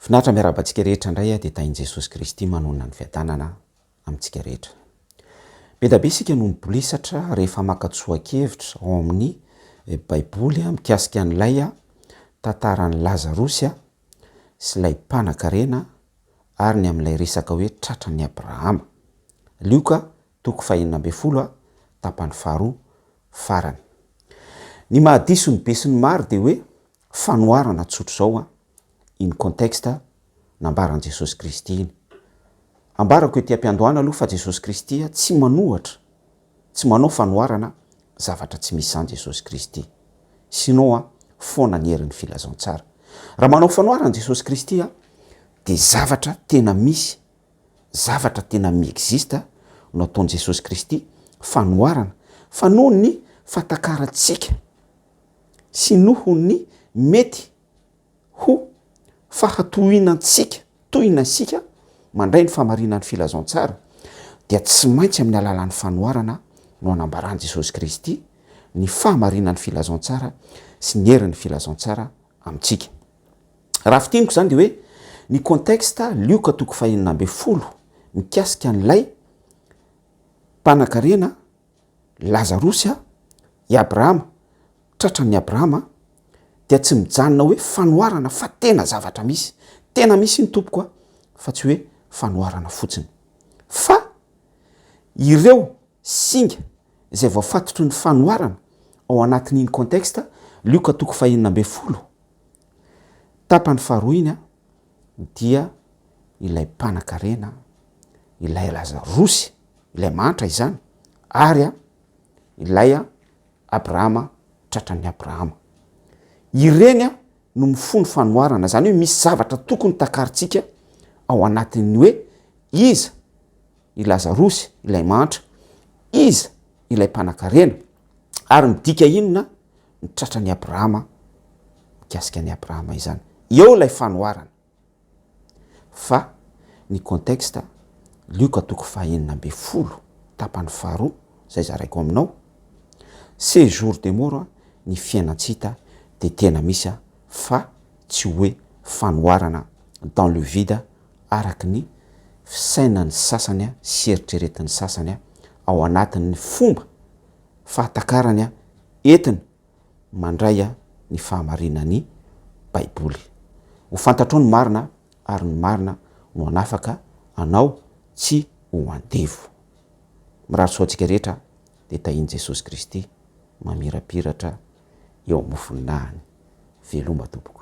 Finaritra miarahaba antsika rehetra indray a, dia tahin'i Jesosy Kristy manonona ny fiadanana amintsika rehetra. Be da be isika no mibolisatra rehefa maka tsoa-kevitra ao amin'ny Baiboly mikasika an'ilay tantaran'i Lazarosy sy ilay mpanankarena ary ny amin'ilay resaka hoe tratran'i Abrahama. Lioka, toko fahenina ambin'ny folo a, tapany faharoa farany. Ny mahadiso ny be sy ny maro dia hoe Fanoharana tsotra izao an, iny contexte nambaran'i Jesosy Kristy iny. Ambarako ety am-piandohana aloha fa Jesosy Kristy tsy manohatra, tsy manao fanoharana zavatra tsy misy izany Jesosy Kristy. Sinon an, foana ny herin'ny filazantsara. Raha manao fanoharana Jesosy Kristy an, dia zavatra tena misy, zavatra tena mi-existe no ataon'i Jesosy Kristy, fanoharana, fa noho ny fatakarantsika, sy noho ny mety ho fahatohinantsika tohina isika mandray ny fahamarinan'ny filazantsara dia tsy maintsy amin'ny alalan'ny fanoharana no hanambaran'i Jesosy Kristy ny fahamarinan'ny filazantsara sy ny herin'ny filazantsara amintsika. Raha fintiniko izany dia hoe ny contexte Lioka toko fahenina ambin'ny folo mikasika an'ilay mpanakarena Lazarosy a, i Abrahama, tratran'i Abrahama a, dia tsy mijanona hoe fanoharana fa tena zavatra misy, tena misy iny tompoko a, fa tsy hoe fanoharana fotsiny. Fa ireo singa izay voafatotry ny fanoharana ao anatin'iny contexte, Lioka toko fahenina ambin'ny folo, tapany faharoa iny a, dia ilay mpanakarena, ilay Lazarosy, ilay mahantra izany, ary ilay Abrahama tratran'ny Abrahama. Ireny no mifono fanoharana, izany hoe misy zavatra tokony takarintsika ao anatin'ny hoe iza i Lazarosy ilay mahantra, iza ilay mpanakarena, ary midika inona? ny tratran'i Abrahama, mikasika an'i Abrahama izany. Eo ilay fanoharana. Fa ny contexte, Lioka toko fahenina ambin'ny folo, tapany faharoa, izay zaraiko aminao, ces jours de mort, ny fiainan-tsy hita dia tena misy fa tsy hoe fanoharana dans le vide araka ny fisainan'ny sasany sy eritreretin'ny sasany ao anatin'ny fomba fahatakarany an, entiny mandray an, ny fahamarinan' ny Baiboly. Ho fantatrao ny marina ary ny marina no hanafaka anao tsy ho andevo. Mirary soa antsika rehetra dia tahian'i Jesosy Kristy mamirapiratra eo amofon'ny nahany. Veloma tompoko.